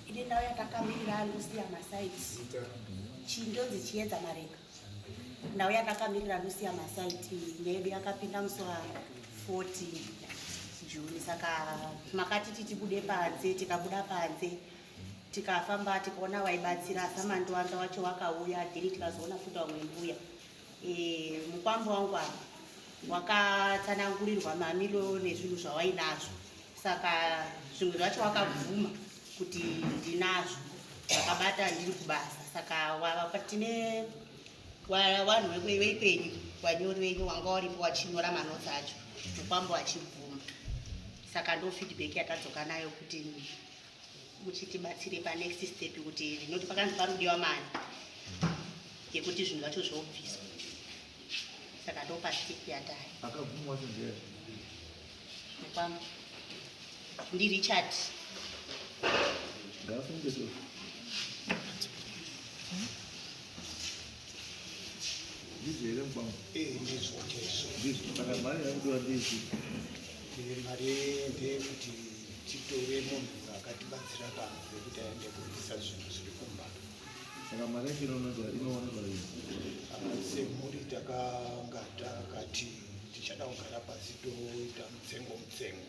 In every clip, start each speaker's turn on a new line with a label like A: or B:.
A: ine ndau yatakamirira alusia masaiti chindonzi chiedza mareka ndau yatakamirira alusia masaiti nedu yakapinda musoa 14 juni saka makati titibude panze tikabuda panze tikafamba tikaona waibatsira samandiwanza wacho wakauya dhiri tikazoona futi wamwe mbuya Eh, mukwambo wangu apa wakatsanangurirwa mamiro nezvinhu zvawainazvo saka zvimwe zvacho wakabvuma kuti ndinazvo vakabata ndiri kubasa saka tine vanhu vekwenyu vanyori venyu wanga waripo wachinyora manotsi acho mukwambo achibvuma saka ndo feedback yatadzoka nayo kuti muchitibatsire pa next step kuti ndinoti pakanzi parudiwa mari yekuti zvinhu zvacho zvoobviswa saka ndopa step yatari akabvumwa
B: sezvera
A: kwam ndi richard
B: ngafunge so ndizvo here mukwangu Eh, ndizvo ndizvo
C: ndizvo saka mari
B: yakudiwa ndizvo Eh,
C: mari ndeyekuti titore munhu uyo akatibatsira pano nekuti aende kuisa zvinhu zviri kumba saka mari
B: yacho inoonekwa inoonekwa ii semhuri
C: takanga takati tichada kugara pasi toita mutsengo mutsengo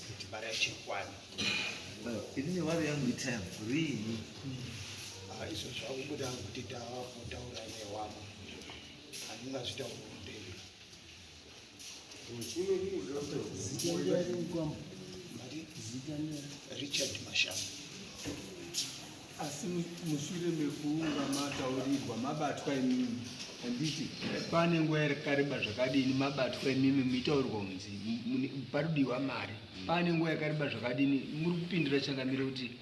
C: kuti mari yacho ikwane
B: ini nevari yangu itime riini
C: izvo zvakubuda kuti tava kutaura newamwe handingazvitauri Richard Mashamba asi
D: mushure mekuunga mataurirwa mabatwa imimi handiti pane nguva yakareba zvakadini mabatwa imimi muitaurirwa kunzi paridiwa mari pane nguva yakareba zvakadini muri kupindira changamire kuti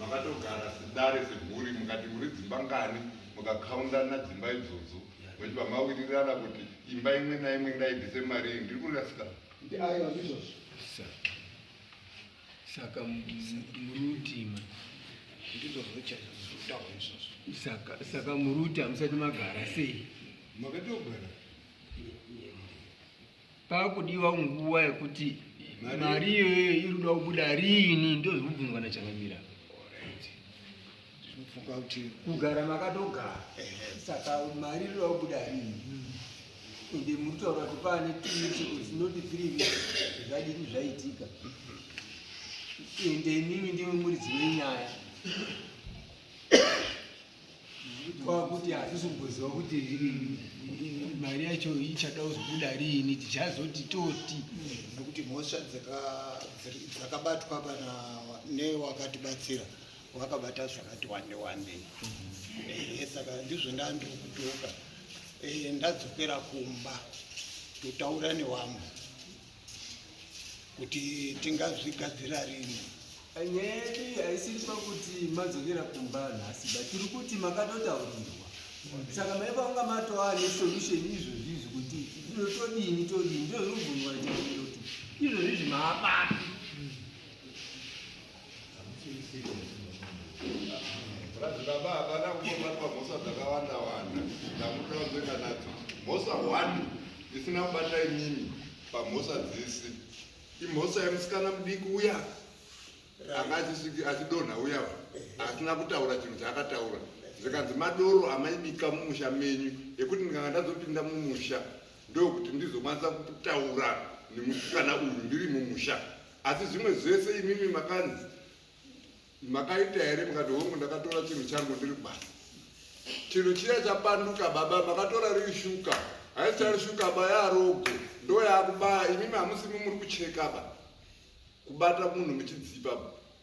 E: makatogara sedare semhuri mukati muri dzimba ngani mukakaundana dzimba idzodzo vachibva mawirirana kuti imba imwe naimwe ngaibvise mari iyi ndiri kurasika saka
D: murutima
C: saka muruti
D: hamusati magara sei makatogara Pakudiwa nguva yekuti mari iyoyo irikuda kubuda riini ndozvekubvunzwa nachangamira
C: funga kuti kugara makatogara
D: saka mari iri kubuda rini ende muri kutaura kuti paane tinoti three weeks zvadini zvaitika ende imimi ndimi muridzi wenyaya kwakuti hatisi kugoziva kuti mari yacho ichada kuzobuda riini tichazoti toti nekuti mhosva
C: dzakabatwa kana newakatibatsira wakabata zvakati wande wande ehe saka ndizvo ndandiri kutoka ehe ndadzokera kumba totaura newamwe kuti tingazvigadzira rini nyeri
D: haisiri pakuti madzokera kumba nhasi but tiri kuti makatotaurirwa saka maiva kunga matova nesolution izvozvi izvi kuti zviro todini todini ndozvinobvunwa chaizvo kuti izvozvi izvi maabapi
E: baba havana kubatwa mhosva dzakawanda wanda ndamutaunzeka nadzo mhosva one isina kubata inini pamhosva dzese imhosva yemusikana mudiki uya anga achidonha uya asina kutaura chinhu chaakataura zvikanzi madoro amaibika mumusha menyu ekuti ndikanga ndazopinda mumusha ndokuti ndizokwanisa kutaura nemusikana uyu ndiri mumusha Asi zvimwe zvese imimi makanzi makaita here mukati hongu ndakatora chinhu changu ndiri basa chinhu chiya chapanduka baba makatora riri shuka haisichari shuka ba yarogo ndo yakubaya imimi hamusi mumuri kuchekaba kubata munhu muchidzipa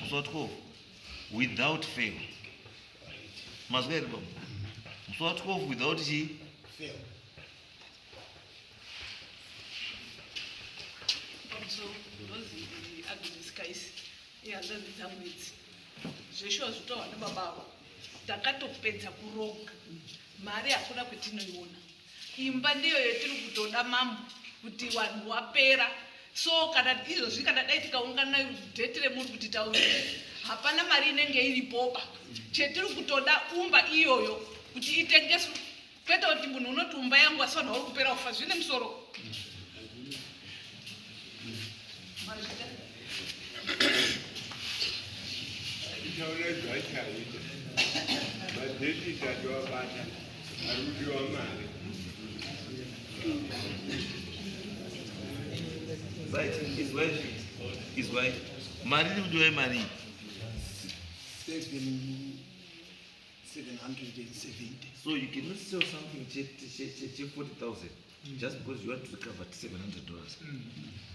B: muswatwo without fail mazwa here baba muswatwo without
F: chii ihanzvadzi dzangu idzi zveshuwa zvitaurwa nebaba avo takatopedza kuroga mari hakuna kwetinoiona Imba ndiyo yetiri kutoda mambo kuti wanhu wapera so kana izvozvi kana dai tikaungana date remuri kuti tauri hapana mari inenge iripoba chetiri kutoda umba iyoyo kuti itengeswe kwete kuti munhu unoti umba yangu asi vanhu vari kupera kufa zvine musoro
B: izwai mari iri kudiwa imari
C: so you cannot
B: sell something che 40000 just because you want to recover 700 dollars mm.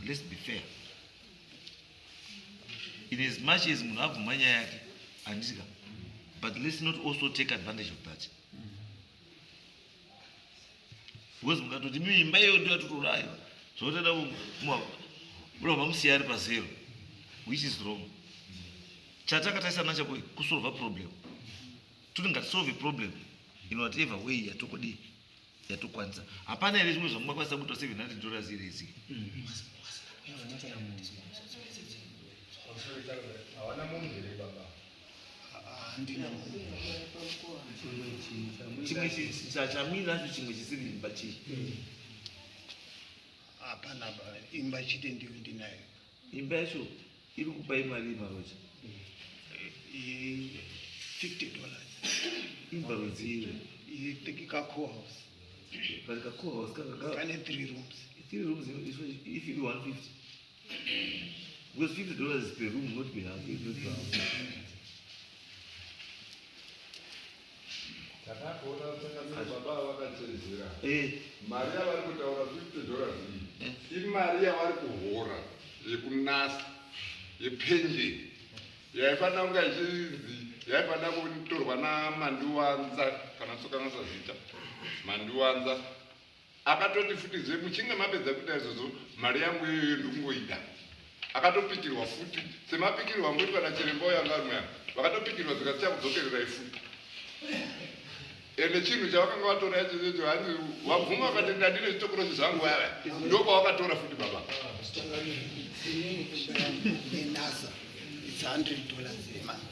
B: let's be fair in as much as munhu abvuma nyaya yake handisika but let's not also take advantage of that because mukatoti mimba iyoyo ndiyo yatotoraiwa zvotoda murova musiya ari pazero which is wrong chatakataisana chako kusolva problem toti ngatisolve problem in whatever way yatokodii yatokwanisa hapana here zvimwe zvamungakwanisa kuita 700 dollars here
E: isi
B: chimwe chamira acho chimwe chisiri imba chii
C: hapana imba chite ndiyo ndinayo Imba yacho
B: iri kupa imari yemaroja 50
C: dollars
B: imba rudziwe itekika
C: cohouse but ka
B: cohouse kane three rooms
C: three rooms
B: if iri 150 because 50 dollars per room not per house
E: Takatoona kusanganisira baba ava vakachedzera. Eh. Mari
B: yavari
E: kutaura 50 dollars iyi eh. imari yavari kuhora yekunasa yepenjeni yaifanira kunga ichinzi yaifanira kutorwa namandiwanza kana tsokanasa zita mandiwanza Akatoti futi zve muchinge mapedza kuita izvozvo mari yangu iyoyo ndikungoida. Akatopikirwa futi semapikirwa angoitwa nachiremba uyo anga ari mwana. Vakatopikirwa zvikati chakudzokererai futi. Ende chinhu chavakanga vatora icho icho hanzi wabvuma vakati ndadine zvitokorozi zvangu vaya ndokwavakatora futi baba. Nenasa
C: it's 100 dollars a month.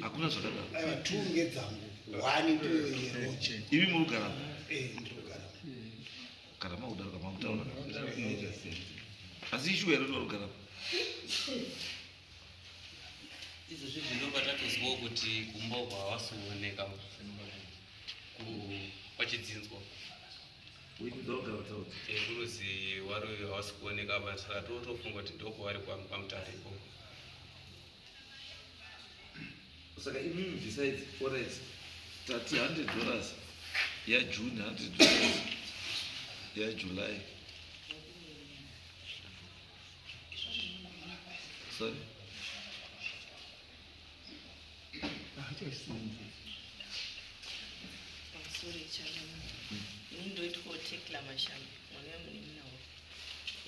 B: hakuna
C: zvakadaivi murugara
B: kana makudaroka makutaura asi ishuwa iro tivarugara
G: izvozvi zvinova tatozivawo kuti kumba uko hawasikuoneka pachidzinzwa Inguruzi wari uyu hawasi kuoneka vanhu saka totofunga kuti ndoko wari kwamutare ikoko.
B: Saka imimi besides forex tati 100 dollars yaJune 100 dollars yaJuly. Sorry.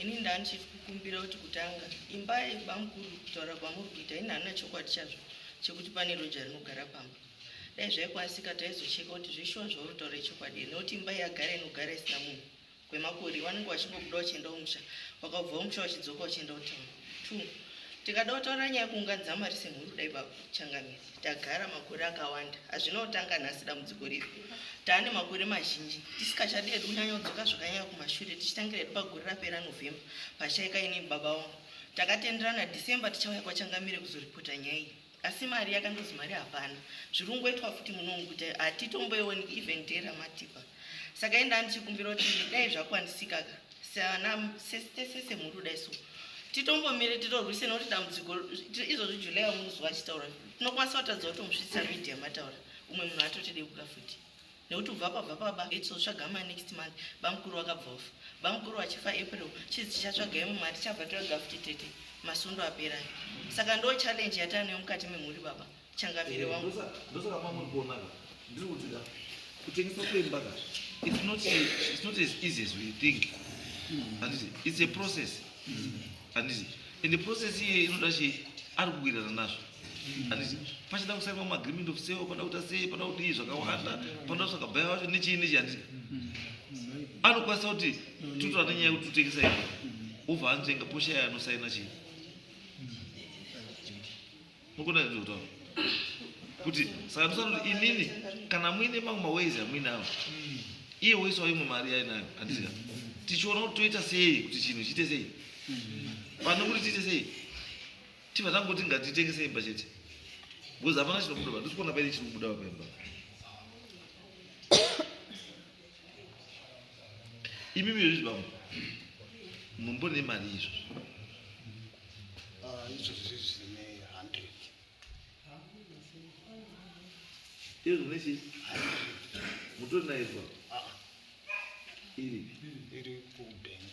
H: ini ndani chief kukumbira kuti kutanga imba yebamukuru kutaura kwamuri kuita ini hanina chokwadi chazvo chekuti pane roja rinogara pamba dai zvaikwanisika taizocheka kuti zveshuwa zvauri taura ichokwadi here nekuti imba yagara inogara isina munhu kwemakore vanenge vachingobuda vachienda kumusha vakabva kumusha vachidzoka vachienda kutown two tikada kutaura nyaya yekuunganidza mari semhuri kudai baba changamire tagara makore akawanda hazvina kutanga nhasi dambudziko riri taane makore mazhinji tisikachadi edu kunyanya kudzoka zvakanyanya kumashure tichitangira hedu pagore rapera novhemba pachaika inini baba wangu takatenderana december tichauya kwachangamire kuzoripota nyaya iyi asi mari yakangozi mari hapana zvirungoitwa futi munonguta hatitomboioni even day ramatipa saka enda andichikumbira kuti dai zvakwanisika ka sesese mhuri kudai so titombomire titorwise nokuti dambudziko izvozvi july wamunozuva achitaura tinokwanisa kutadza kutomusvitsa media mataura umwe munhu atotideuka futi nekuti kubva kwabva baba hetso tsvaga mai next month bamukuru vakabva vafa bamukuru vachifa april chizi tichatsvaga imwe mari tichabva toega futi tete masundo aperai saka ndo challenge yataanayo mukati memhuri baba changavire eh, wangu ndosaka mamuri kuona
B: ka ndiri kuti ka kutengeswa kwemba ka it's not it's not as easy as we think handiti it's a process handiti and the process iye inoda chii ari kuwirirana nazvo pachida kusainwa maagreement of sale panoda kuita sei panoda kudii zvakawanda panoda kutsvaga baya wacho nechii nechii handiti anokwanisa kuti tutora nenyaya yekuti tutengesa iwe obva anotenga poshaya anosaina chii mukona kuti kutaura kuti saka ndosana kuti inini kana muine mamwe maways amuinawo iye woisawo imwe mari yainayo handiti ka tichiona kuti toita sei kuti chinhu chiite sei pane kuti tiite sei Chiva zangoti ngatitengese imba chete. Because hapana chinobuda apa. Ndisi kuona paine chinobuda apa imba. Imi miri zvibambo. Mumbone mari izvo. Ah,
C: izvo zvizi ne 100.
B: Izvo nechi. Mutori nayo izvo. Ah. Iri. Iri
C: ku bank.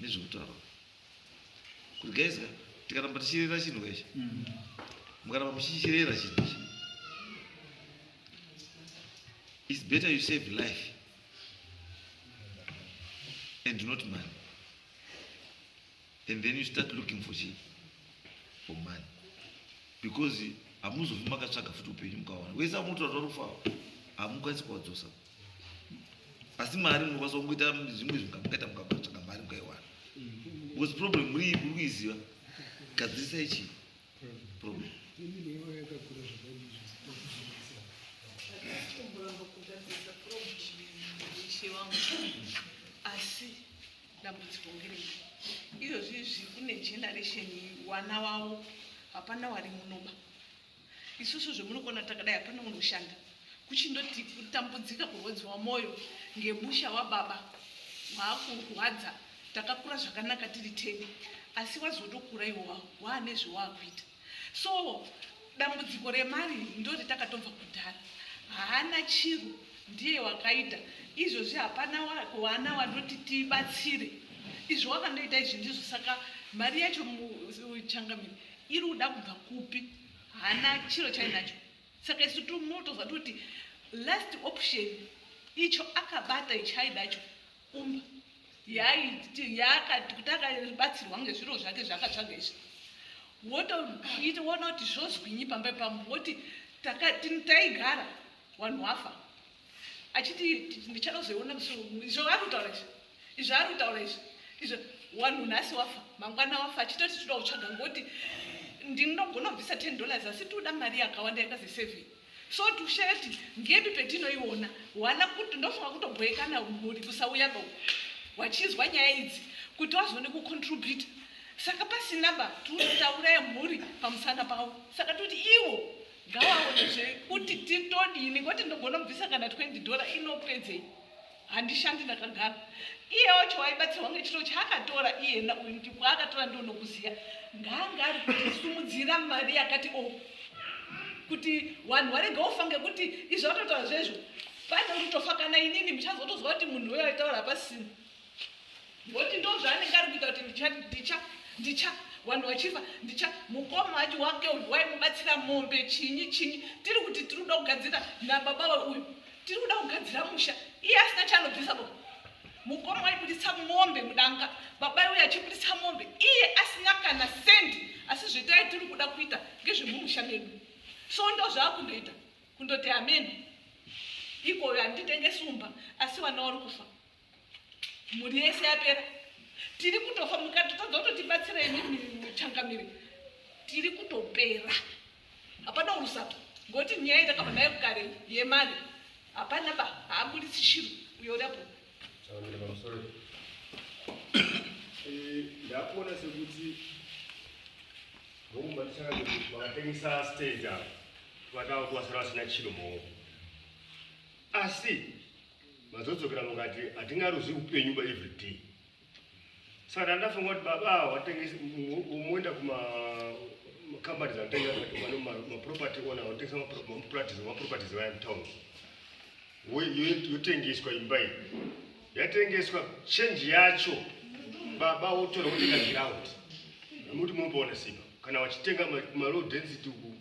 B: nezvekutaura kuti guys ka tikaramba tichirera chinhu kaichi mm. mukaramba muchichirera chinhu ichi its better you save life and not money and then you start looking for chi for money because hamuzofi makatsvaga futi upenyu mukawana wese amunotora tori kufawa hamukwanisi kuwadzosa asi mari munokwanisa kungoita zvimwe zvingamukaita mukatsvaga mari mukaiwana because problem muri iyi kuri kuiziva gadzirisa ichi problem
F: asi dambudziko ngerei izvozvizvi kune generation wana wavo hapana wari munoba Isusu zvemunokona takadai hapana unoshanda kuchindoti kutambudzika kurwadziwa mwoyo ngemusha wababa waakurwadza takakura zvakanaka tiri teni asi wazotokura iwowa waane zvewaakuita so dambudziko remari ndori takatobva kudhara haana chiro ndiye wakaita izvozvi hapana wana wanoti tibatsire izvo wakandoita izvi ndizvo saka mari yacho changamire iri kuda kubva kupi hana chiro chainacho saka isu timotoziva toti last option icho akabata ichaidacho umba yaiti yakati kuti akabatsirwa ngezviro zvake zvaakatsvaga izvi wotoita wona kuti zvozwinyi pamba pambo woti taigara wanhu wafa achiti ndichada kuzoiona musi wemuno izvo ari kutaura izvi izvo ari kutaura izvi izvo wanhu nhasi wafa mangwana wafa achitoti toda kutsvaga ngoti ndinogona kubvisa ten dollars asi toda mari yakawanda yakazi seven so tusheti ngepi petinoiona wana kuti ndofunga kutobhoekana mhuri kusauya ba wachizwa nyaya idzi kuti wazone kucontribute saka pasina ba tinotauraya mhuri pamusana pavo saka toti ivo ngawaone zve kuti titodini ngoti ndogona kubvisa kana 20 dollar inopedzei handishandi ndakagara iye wacho waibatsirwa ngechiro chaakatora iyena uyu kuti kwaakatora ndonokuziya ngaanga ari kutisimudzira mari yakati o oh, kuti vanhu varega ufa ngekuti izvo vatotaura zvezvo pane kutofa kana inini muchazotozwa kuti munhu weaitaura pasina Ngoti ndo zvaanenge ari kuita kuti ndicha ndicha ndicha vanhu vachifa ndicha mukoma wacho wake uyu waimubatsira mombe chinyi chinyi tiri kuti tiri kuda kugadzira nababa uyu tiri kuda kugadzira musha iye asina chaanobvisa bo mukoma waibudisa mombe mudanga baba uyu achibudisa mombe iye asina kana sendi asi zvitai tiri kuda kuita ngezvemumusha medu so ndo zvaakundoita kundoti ameni ikoyo handitenge sumba asi vana wari kufa mhuri yese yapera tiri kutofa mukatotadza kutotibatsira imi changamiri tiri kutopera hapana urusato ngokuti nyaya itakabva nayo kare yemari hapana ba haabudisi shiro uyorapo eh,
I: ndakuona sekuti vokumba tichakati vakatengesa stage ava vatava kuvasara vasina chiro maoko asi Mazodzokera mukati hatina ruzi upenyu ba every day. Saka ndandafunga kuti baba awa watengesa umoenda kuma company dzanotengesa vano ma property owner vanotengesa ma properties ma properties vaya mu town. Yotengeswa imba iyi. Yatengeswa change yacho baba wotora wotenga ground. Muti mumboona sipa kana vachitenga ma low density uku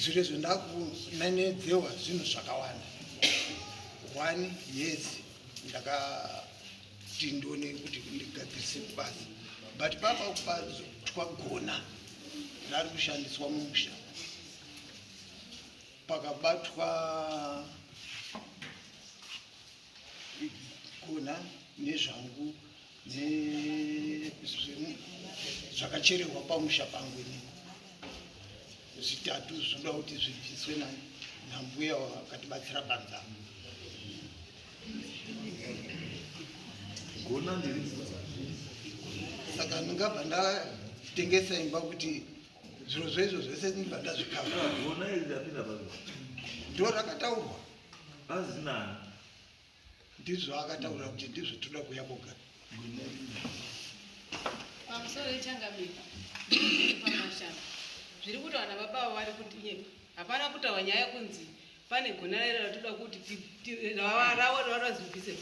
C: Zviri izvo ndakunenedzewa zvinhu zvakawanda. One, yes, ndakati ndone kuti ndigadzirise kubasa but papa kupa twagona ndari kushandiswa mumusha pakabatwa kona nezvangu zvakachererwa pamusha pangu ini zvitatu zvinoda kuti zvibviswe nambuya wakatibatsira panzama gona ndiri saka ndingabva ndatengesa imba kuti zviro zvezvo zvese ndibva ndazvikava ndo rakataurwa Hanzi nani? Ndizvo akataura kuti ndizvo toda kuya koga.
J: Pamusoro yechangamiko pamashanga zviri kuti vana baba avo vari kundinyepa. Hapana kutaura nyaya kunzi pane gonarera ratoda kuti ravo razvibvise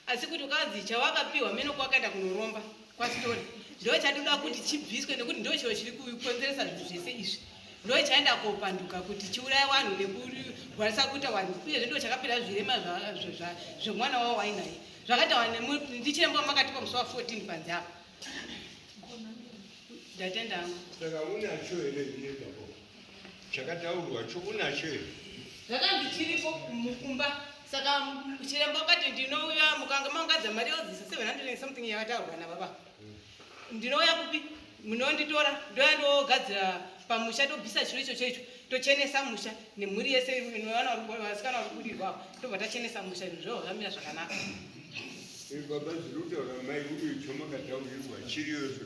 J: asi kuti ukanzi chawakapiwa meno kwakaenda kunoromba kwasitori ndo chatinoda kuti chibviswe nekuti ndo chiro chiri kukonzeresa zvinhu zvese izvi ndo chaenda kopanduka kuti chiuraya vanhu nekurwarisa kuita vanhu uyezve ndo chakapera zvirema zvemwana wavo wainaye zvakaitawa ndichiremba makatipa musi wa 14 panzi apa ndatenda angu
D: chakataurwa cho unacho here zvakanzi chiripo
J: mukumba saka chiremba wakati ndinouya mukanga maungadza mari yodzisa 700 something yakataurwa nababa hmm. ndinouya kupi munonditora ndouya ndogadzira pamusha tobvisa chiro ichocho icho tochenesa musha nemhuri yese vana vasikana vari kudirwa tobva tachenesa musha izvo zvo zvamira zvakanaka
I: baba zvinotaura mai uyo chomakataurirwa chiriyocho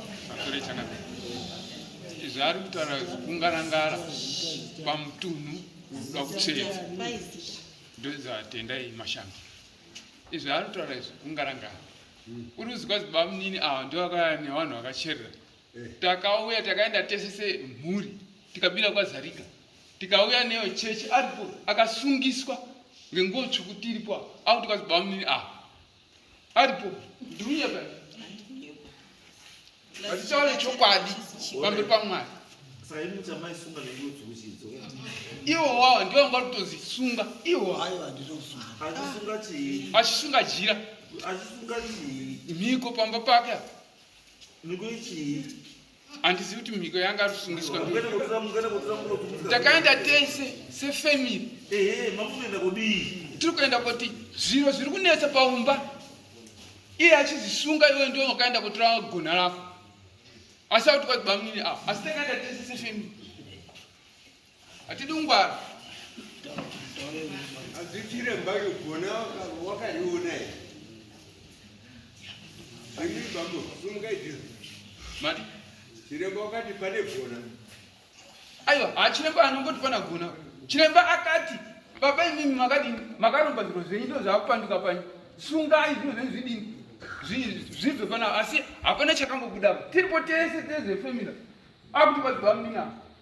K: zvaari kutaura kungarangara pamutunhu unoda kutseva ndozvatendai mashamba izvi ari kutaura izvi kungarangara uri kuzikwa zibamunini ava ah, ndovakaya nevanhu vakacherera eh. takauya takaenda tese semhuri tikabira kwazarika tikauya neyo chechi aripo akasungiswa ngenguo tsvuku tiripo apo tikazibamunini ava ah, aripo ndirunyeba vatichaone chokwadi pamberi pamwari iwo wawa ndiwo vanga kutonzi sunga iwo achisunga jira mhiko pamba pake mhiko ichii handizivi kuti mhiko yanga ari kusungiswa takaenda tese sefamily tiri kuenda kuti zviro zviri kunetsa paumba iye achizisunga iwe ndiwe wakaenda kutora gona rako asi akuti kwati bamwini avo asi takaenda tese sefamily Hatidi ungwara.
I: Azichire mbayo gona wakaiona here? Ini bambo sumukai jira. Mati
K: chiremba
I: wakati pane
K: gona. Aiwa, ha ah, chiremba anongoti pana gona. Chiremba akati baba imimi makati makaromba zviro zvenyu ndo zvakupanduka panyu. Sungai zviro zvenyu zvidini? Zvibve pana asi hapana chakambobuda. Tiripo tese tese family. Akuti kwadzwa mina.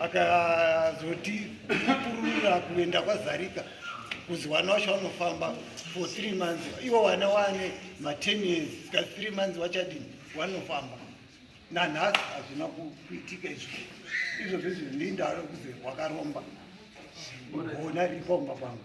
C: akazoti apurura kuenda kwazarika kuzi wana wacho wanofamba for three months iwo wana wane maten years ska three months wachadini wanofamba nanhasi hazvina kuitika izvo izvo zvezvi ndindaro kuzi wakaromba ona ripomba kwangu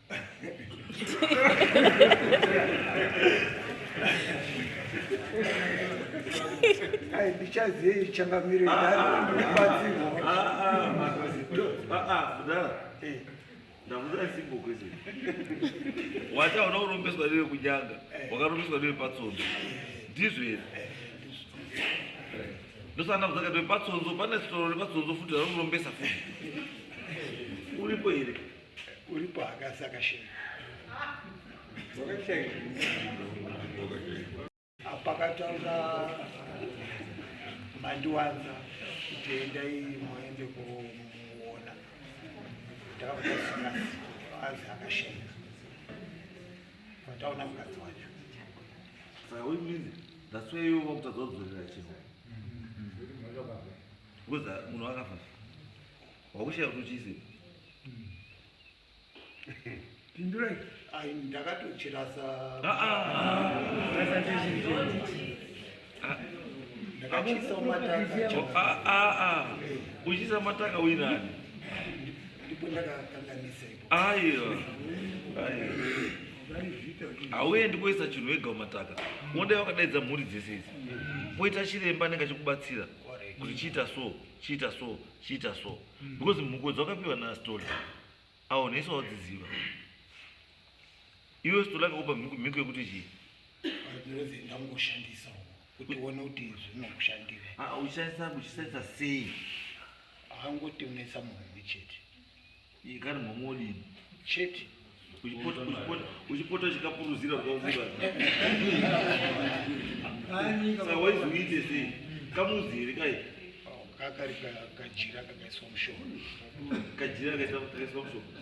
C: Ai, ndichazei changamire
B: wachaona urombeswa newe kunyanga wakarombeswa newe patsondo ndizvo here ndosana kuzaka newe patsonzo pane sitoro repatsonzo futi rarokurombesa futi uripo here Uripo
C: hakasi akashaya. Wakashaya. Apakataura mandiwanza kuti endai muende kumuona. Ndakakutasika azi akashaya. Pataona mukadzi wacho. Saka
B: uyu mine that's why iwe wakutadza kudzorera chinhu. Ngoza munhu akafa. Wakushaya kuti uchiise.
C: Pindurai. Ai ndakatochirasa. Ah ah. Ndakachisa mataka. Ah ah ah. Uchisa
B: mataka uinani.
C: Ndipo ndakakanganisa ipo. Aiyo. Aiyo.
B: Hauendi koisa chinhu wega umataka. Unoda wakadaidza mhuri dzese idzi. Poita chiremba anenge achikubatsira kuti chiita so. chiita so chiita so mm. because mhuko dzawakapiwa nastola awo nhese wadziziva iwe stola akakupa mhiko yekuti chii ndangoshandisa kuti
C: uone kuti zvinokushandira ah, uchishandisa kuchishandisa
B: sei akangoti
C: unetsa munhu chete Ikari
B: mhamha odini? Chete.
C: Uchipota uchipota
B: uchipota chikapuruzira kwaunga. Saka waizoite sei? Kamuzi here kai? Kakari ka-
C: kajira kakaiswa mushonga. Kajira
B: kaita kaiswa mushonga.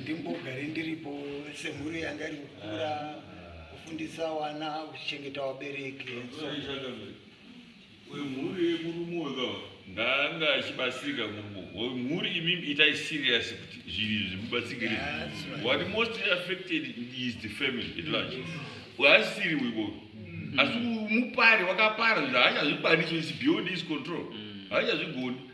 C: ndimbogare ndiripo semhuri yanga iri kukura kufundisa wana kuchengeta vabereki
L: wemhuri yemurume wega ndanga achibatsirika mhuri imimi itai serious kuti zvinhu izvi zvimubatsirikire what mostly affected is the family at large waasiri wiko asi mupari wakapara zvaachazvikwanisi is beyond his control haachazvigoni mm.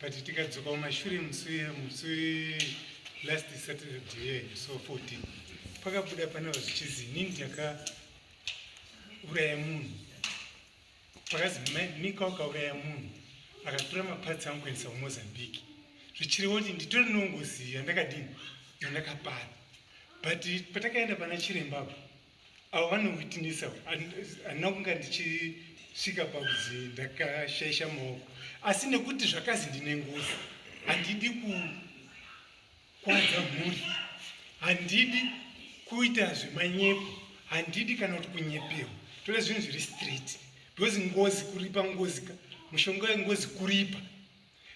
M: but tikadzoka kumashure musi musi last saturday yenyu so 14 pakabuda pana vazvichizi inini ndakauraya munhu pakazi mika wakauraya munhu akatora mapatsi angu kuendesa kumozambique zvichiriwo kuti nditori nongozi yandakadini yandakapara but patakaenda pana chirembapo avo vanowitnessa handina kunga ndichisvika pakuzi ndakashaisha maoko asi nekuti zvakazi ndine ngozi handidi kukwadza mhuri handidi kuita zvemanyepo handidi kana kuti kunyepewa tore zvinhu zviri straight because ngozi kuripa ngozika mushonga wengozi kuripa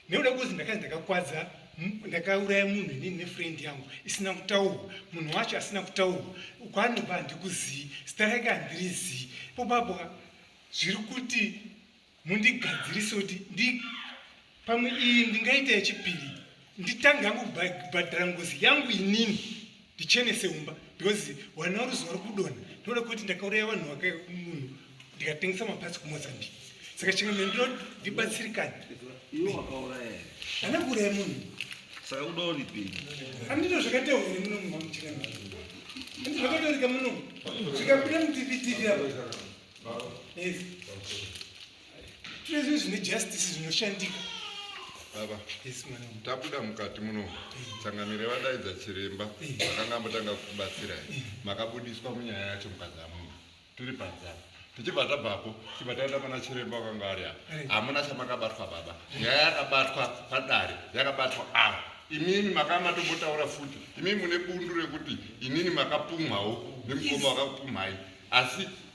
M: nekuda kwekuti ndakanzi ndakakwadza ndakauraya munhu inini nefriend yangu isina kutaurwa munhu wacho asina kutaurwa kwanobva handikuzii zita rake handiri zii ipopapo zviri kuti mundigadzirise kuti ndi pamwe iyi ndingaita yechipiri nditange yangu kubhadhara ngozi yangu inini ndichenese umba because wana ruzuva rokudona ndinoda kuti ndakauraya vanhu vake munhu ndikatengesa mapatsi kumozambique saka chimwe mene ndinoti ndibatsirikane
B: ana kuuraya
M: munhu saka
B: udoripi andito
M: zvakatauri muno mumamchira andito zvakataurika muno zvikabuda mutivi tivi ava yes Tine zvine justice zvinoshandika. Baba.
E: Yes mwana. Tabuda mukati muno. Eh. Tsangamire vadaidza chiremba. Eh. Vakanga mutanga kubatsira. Eh. Makabudiswa munyaya yacho mukazamuka. Tiri panzara. tichibva tabvapo tichibva taenda pana chiremba wakanga ari apa hamuna chamakabatwa baba nyaya yakabatwa padare yakabatwa ava imimi makanga matombotaura futi imimi mune bundu rekuti inini makapumhawo nemukoma wakakupumhai asi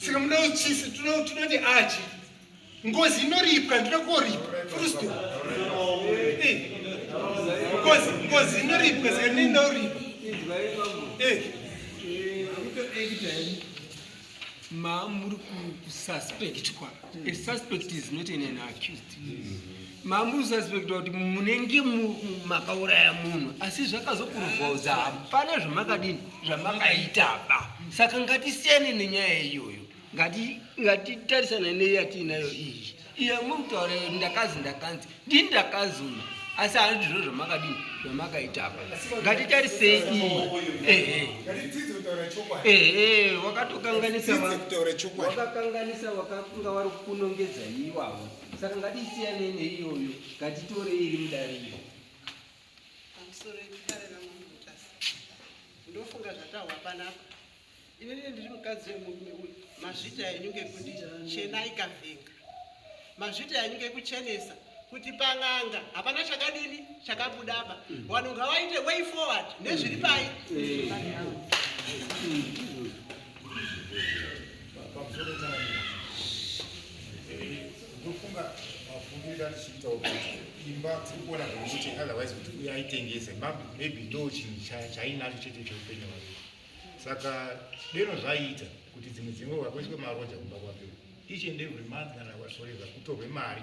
M: saka muda uchisi tinoti achi ngozi inoripwa ndinoda koripwa furusto eh. ngozi ngozi inoripwa saka ndini ndauripwa eh.
D: ma muri kususpectwa a suspect is not an accused mambo usaspekta kuti munenge makauraya munhu asi zvakazokuruvauza hapana zvamakadini zvamakaitaba saka ngatisiyane nenyaya iyoyo ngatitarisana neyatiinayo iyi iyo mukutaura ndakanzi ndakanzi ndi ndakazuma asi hanzi zviro zvamakadini zvamakaitaba ngatitarisei iyi ehe ehe wakatokanganisa wakakanganisa wakakunga wari kunongedza iwawo saka ngatisiyanei neiyoyo ngatitorei iri
J: mudariro pamusoro
D: yekudare
J: ramambo
D: mutasa
N: ndofunga zvatahwa panapa inini ndiri mukadzi wemurume uyu mazvita enyu ngekuti chena ikavhenga mazvita enyu ngekuchenesa kuti pan'anga hapana chakadini chakabuda apa wanhu ngawaite way forward nezviri pai
O: ndofunga mafungiro achiita kuti imba tiri kuona zvekuti otherwise kuti uye aitengese maybe ndo chinhu chainacho chete cheupenyu hwake saka deno zvaiita kuti dzimwe dzimwe wakoiswe maroja kumba kwake each and every month kana wasoreva kutorwe mari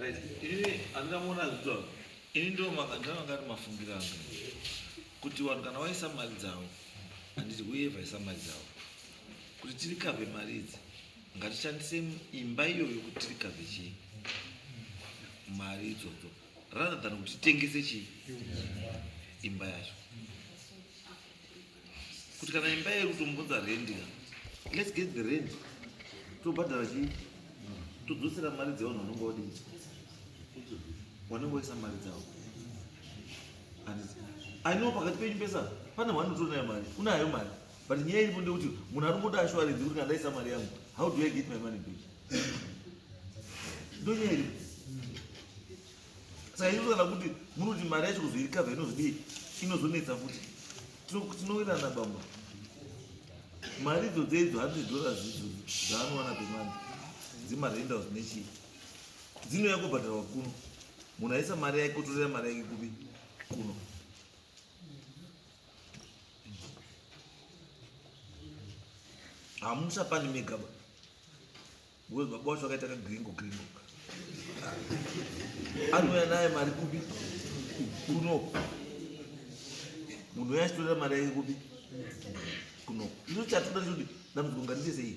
B: Right. Ini andina muona zvitwa. Ini ndo makandana ngati mafungira angu. Kuti vanhu kana vaisa mali dzavo handiti uye vaisa mali dzavo. Kuti tiri kave mari idzi ngatishandise imba iyoyo kuti tiri kave chii mari idzodzo. rather than kuti titengese chii imba yacho kuti kana imba yedu tombunza rendi ka let's get the rent tobhadhara chii todzosera mari dzevanhu vanonga wadii wanenge waisa mari dzavo aino pakati penyu pesa pane wanotonayo mari unayo mari but nyaya iripo ndekuti munhu ari kungoda ashuwarenzi kuti kana ndaisa mari yangu how do i get my money back ndonyeri saka inoto kana kuti munoti mari yacho kuzoirikavha inozodii inozonetsa futi tinowirirana bamba mari idzo dzeidzo hundred dollars idzo dzaanowana pemani dzemarendals nechii dzinouya kubhadharwa kuno munhu aisa mari yake otorera mari yake kupi kuno hamusapani megaba Wewe baba wacho akaita ka gringo gringo. Anouya naye mari kupi? Kuno. Munhu uya achitorera mari yake kupi? Kuno. Icho chatoda choti dambudziko ngatiite sei?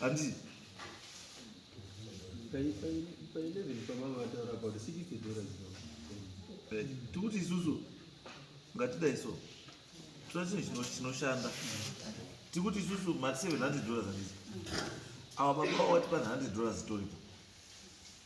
B: Hanzi pa
D: 11 pamama vataura about 60 dollars eh,
B: tikuti isusu ngatidai so tira chinhu chinoshanda tikuti isusu mati 700 dollars handizi awa baba watipa 100 dollars toripo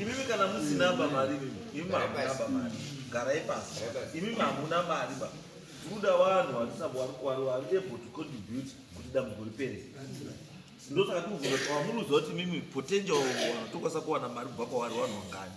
B: imimi kana musinaba mari imimi hamunaba mari garai pasi imimi hamuna mari ba kuda vanhu vari able to contribute kuti dambuko ripere ndosaka tikuvuamuruziva kuti mimi potential vanhu tokwanisa kuwana mari kubva kwavari vanhu vangani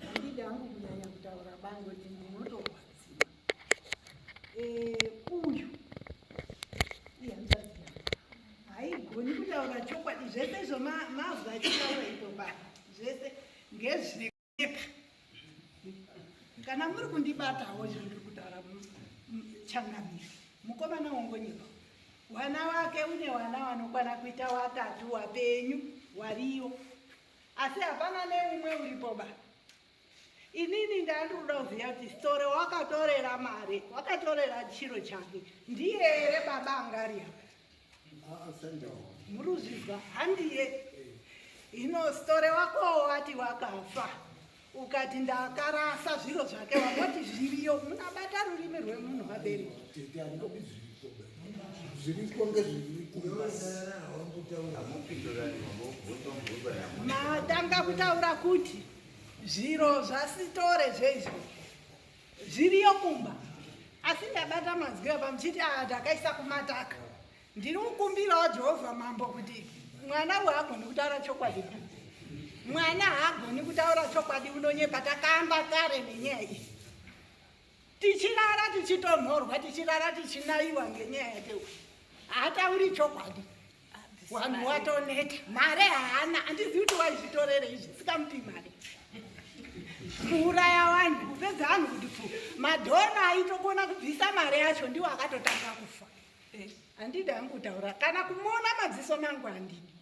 P: Handidi hangu kunyanya kutaura bango kuti ndinotorwadziwa. Eh, uyu ihanzvadzi yangu haigoni kutaura chokwadi zvese izvo mazwi achitaura ipo pa zvese ngezvineka kana muri kundibatawo izvo ndiri kutaura changamire mukomana wongonyepa wana wake une wana wanokwana kuita watatu wapenyu wariyo asi hapana neumwe uripo ba inini ndandiruda kuziva kuti sitore wakatorera mari wakatorera chiro chake ndiye here baba angaria muri kuzvizwa handiye ino sitore wako wati wakafa ukati ndakarasa zviro zvake wangoti zviriyo munabata rurimi rwemunhu vabereki zviriko ngezvirimatanga kutaura kuti zviro zvasitore zvezvo zviriyo kumba asi ndabata mazwi apa muchiti aa ah, takaisa kumataka Ndiri kukumbirawo Jehovha Mambo kuti mwana uyu agoni kutaura chokwadi. Mwana haagoni kutaura chokwadi unonyepa takamba kare nenyaya iyi. Tichirara tichitonhorwa tichirara tichinaiwa ngenyaya yake uyu. Haatauri chokwadi. Wanhu watoneta. Mare haana handizivi kuti waizvitorere izvi sikamupi mari. Kuuraya wanhu kupedza anhu kuti pfu. Madhona aitokona kubvisa mari yacho ndiwo akatotanga kufa. Eh, handidi hangu kutaura kana kumuona madziso mangu handidi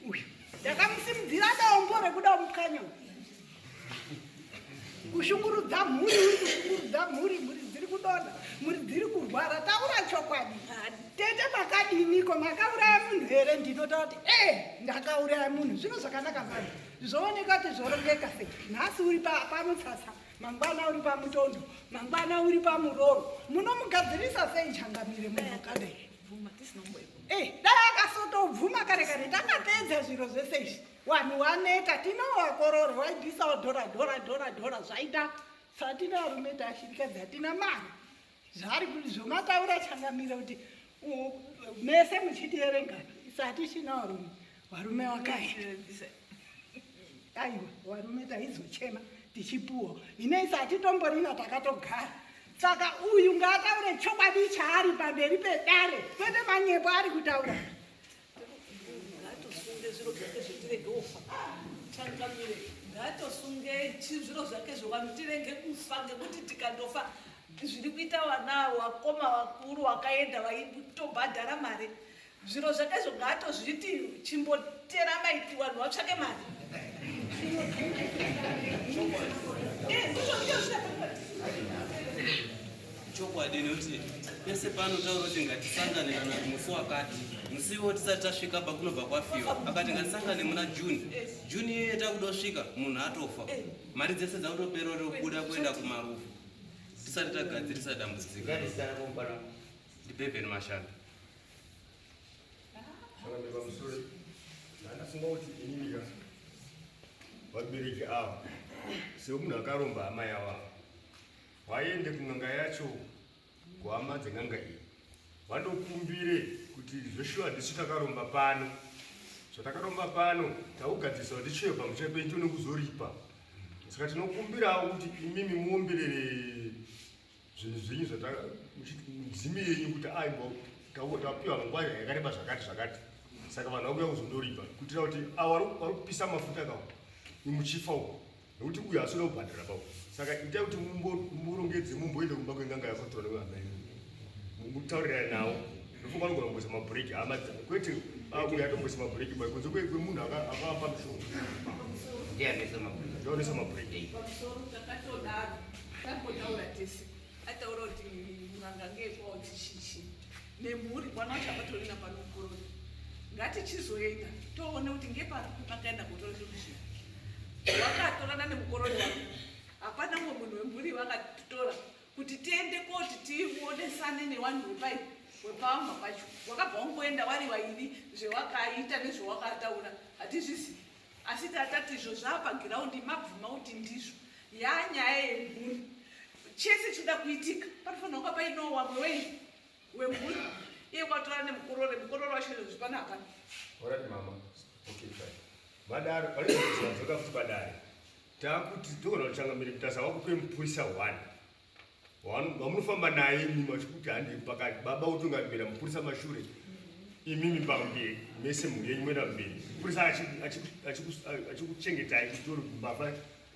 P: uyu ndakamusimudzira dombo rekuda mukanya kushungurudza mhuri uri kushungurudza mhuri mhuri dziri kudonha mhuri dziri kurwara taura chokwadi tete makadiniko makauraya munhu here ndinotaura kuti e eh, ndakauraya munhu zvino zvakanaka vanhu zvooneka kuti zvorongeka sei nhasi uri pamutsasa mangwana uri pamutondo mangwana uri pamuroro munomugadzirisa sei changamire munhu kadai eh, dai akasotobvuma kare kare takapedza zviro zvese izvi vanhu waneta tinovakorore waibvisawo dhora dhora dhora dhora zvaita satina varume tashirikadzi hatina mari zvaari zvomataura changamire kuti mese muchitierenga satichina varume varume wakaita aiwa varume taizochema tichipuwa inei satitomborina takatogara saka uyu ngaataure chokwadi chaari pamberi pedare kwete manyepo ari kutaura ngaatosunge
F: zviro zvake zvetirege kufa changamire ngaatosunge zviro zvake zvevanhu tirenge kufa ngekuti tikandofa zviri kuita vana wakoma vakuru wakaenda vaitobhadhara mari zviro zvake zvo ngaatozviti chimbotera maiti vanhu vatsvake mari
G: Chokwadi noti pese pano tauro kuti ngatisangane kana musi wakati musiwo tisati tasvika pakunobva kwafiwa akati ngatisangane muna june june iyoyo takudosvika munhu atofa mari dzese dzakutopera rokuda kuenda kumarufu tisati tagadzirisa dambudziko ndibeveni mashanda ndafunga
I: kuti inini vabereki ava semunhu akaromba amai avavo vaende kun'anga yacho kuhama dzen'anga iyi vandokumbire kuti zveshuwa tisu takaromba pano zvatakaromba pano takugadzirisa kuti chiyo pamusha penyu tione kuzoripa saka tinokumbirawo kuti imimi muombirere zvinhu zvenyu zvatamudzimu yenyu kuti aibo tapiwa nguva yakareba zvakati zvakati saka vanhu vakuya kuzondoripa kuitira kuti avo vari kupisa mafuta kawo imuchifa uko nokuti uyu haasina kubhadhara pavo saka itai kuti mumborongedze mumboende kumba kwenganga yakotora nevana imi mutaurira nawo ndofunga vanogona kumboisa mabhureki hama dzavo kwete akuya atomboisa mabhureki bai kunze kwemunhu akapa mishonga ndianesa mabhureki ataura
F: kuti nganga ngekwawo chichichi nemhuri mwana wacho akatorina panokorora ngatichizoenda toone kuti ngepari pakaenda kutora solution wakatorana nemukorori wake hapana mumwe munhu wemhuri vakatitora kuti tiende koti tionesane newanhu wepai wepamba pacho wakabva wangoenda wari vairi zvewakaita nezvewakataura hatizvizivi asi tatati izvo zvaapagiraundi mabvuma kuti ndizvo yaa nyaya yemhuri chese chinoda kuitika panofanira kunga painowa mweweii wemhuri iye kwatora
I: nemukorore mukorore wacho zvipana hapana orati mama okay fine vadaro paizoka futi padare takuti togona kuchangamira mutasa wakupe mupurisa one wamunofamba naye imimi vachikuti handi pakati baba utongamira mupurisa mashure imimi pamberi mese mhuri yenyu moenda mberi mupurisa achikuchengetai kutori mbavha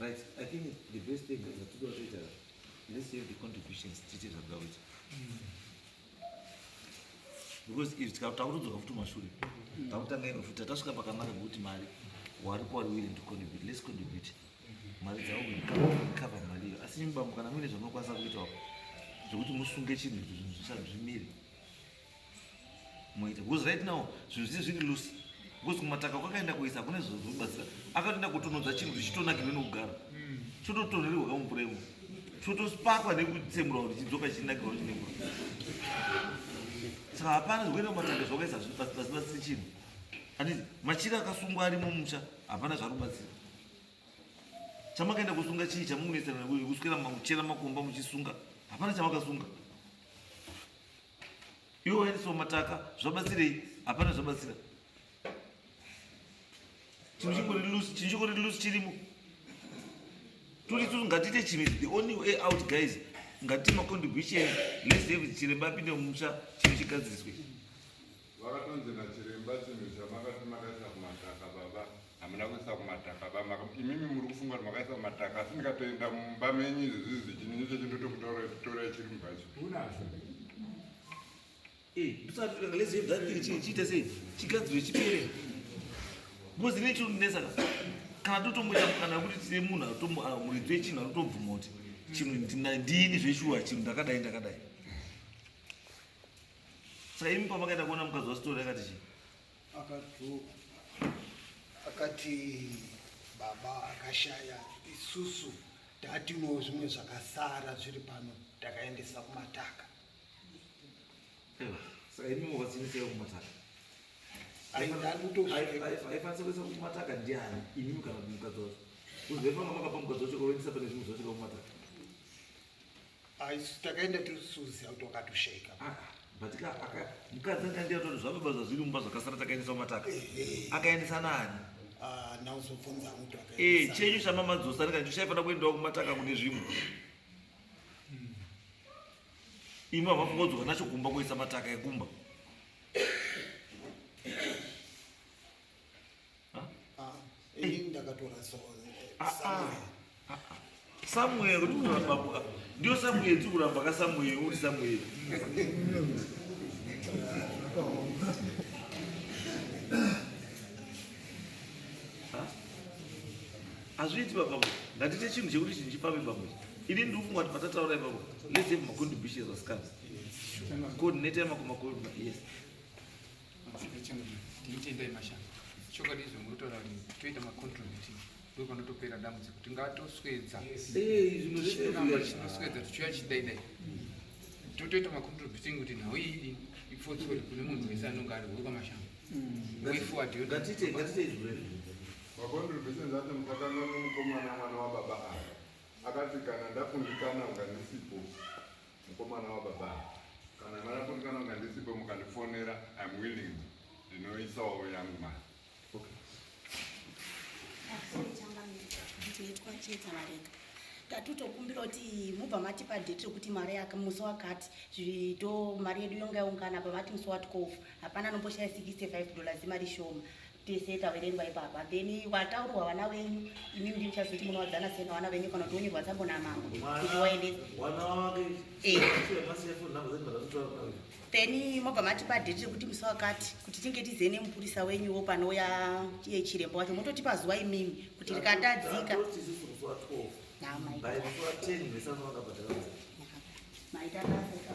B: Right, I think the best thing is to do it. Let's save the contributions, titi zvabda kuita. Because if takutodzoka futi mashure, takutanga ino futi tasvika pakanaka ngokuti mari wari kwari willing to contribute, let's contribute. Mari dzavo cover mari iyo. Asi nyimba kana muine zvamunokwanisa kuita zvekuti musunge chinhu zvimire. muite because right now zvinhu zvii zviri loose because kumataka kwakaenda kuisa kune zvobatsira akatoenda kutonodza chinhu kuti chitonakirwe nekugara hmm. chototonhererwa kamumvura imo chotosparwa nekutsemurwa kuti chidzoka chinakirwa kuti nemvura saka hapana zvikuenda kumataka zvakaisa zvasibatsiri chinhu anditi machira akasungwa arimo musha hapana zvari kubatsira chamakaenda kusunga chii chamukunesana nekuswera makuchera makomba muchisunga hapana chamakasunga Iwe waendeswa mataka zvabatsirei? Hapana zvabatsira. Chinhu chingori loose, chinhu chingori loose chirimo. Turi turi ngatiite chinhu the only way out guys. Ngatiite macontribution. Let's have chiremba apinde mumusha chinhu chigadziriswe. Vakatonzi
E: nachiremba chinhu chamakati makaisa kumataka baba hamuna kuisa kumataka baba imimi muri kufunga kuti makaisa kumataka asi ndikatoenda mumba menyu izvizvizi chinini chechi ndotokutore chiri
B: mubhachi unazvo eh, chiite sei chigadziro chipere bcoz ine chinonesa kana totomboita kana kuti tine munhu atomu ah, muridzi wechinhu anotobvuma kuti chinhu ndini zveshuwa chinhu ndakadai ndakadai Saimi pamakaenda kuona mukadzi wasitori akati chii? Akati akati
C: baba akashaya isusu tatino zvimwe zvakasara zviri pano takaendesa kumataka.
B: Saimi wazinisei kumataka? Aifanisa kuisa kumataka ndiani imi kana mukadzi wacho? Kuzivefanga makapa mukadzi wacho kuendesa pane zvimwe zvacho kumataka. Aisu
C: takaenda tiri suzi auti wakatosheka. Ah, ah, but ka
B: aka mukadzi anga ndiye atoti zvababa zvazviri mumba zvakasara takaendesa mataka. Eh, eh. Akaendesa nani? Ah, now so
C: phones are mutu akaendesa. Eh, chenyu shama madzosa
B: nika ndishaye fana kuendawo kumataka kune zvimwe. Hmm. Imi havafunga kudzoka nacho kumba kuisa mataka ekumba. Samuel kuti kuti vababuka ndio Samuel tiri kuramba ka Samuel uri Samuel hazviiti baba ngatite chinhu chekuti chinhu chipame baba ini ndiri kufunga kuti patataura ipapo let's have macontributions as comes coordinator yemakomakoa yes Mazita changu
K: ndinitendai mashanga chokwadi izvo munotaura kuti toita macontribute ndo panotopera dambudziko tingatoswedza zvinoramba tichinoswedza tichiuya chidaidai totoita macontribute kuti nhau iyi ipfotsore kune munhu wese anonge ari huri kwamashango way forward ngatite ngatite izvo
E: macontributions acho mukatanga nomukomana mwana wababa ava akati kana ndakundikana ungandisipo Mukomana wababa kana mara kuti kana unga ndisipo mukandifonera I'm willing ndinoisawo yangu mari.
A: Okay. tatotokumbira kuti mubva matipa date rekuti mari yake musi wakati zvito mari yedu yonga yaungana pamati musi watikofa hapana anomboshaya 65 dollars mari shoma tese taverengwa ipapa then vataurwa vana venyu imi ndi muchazoti munowadzana sena vana venyu kana kuti wonyurwa tsambo namambo kuti waendesa eh. then mobva matipa date rekuti musi wakati kuti tinge tize nemupurisa wenyuwo panouya iye chirembo wacho mototipa zuva imimi kuti rikatadzika maita basa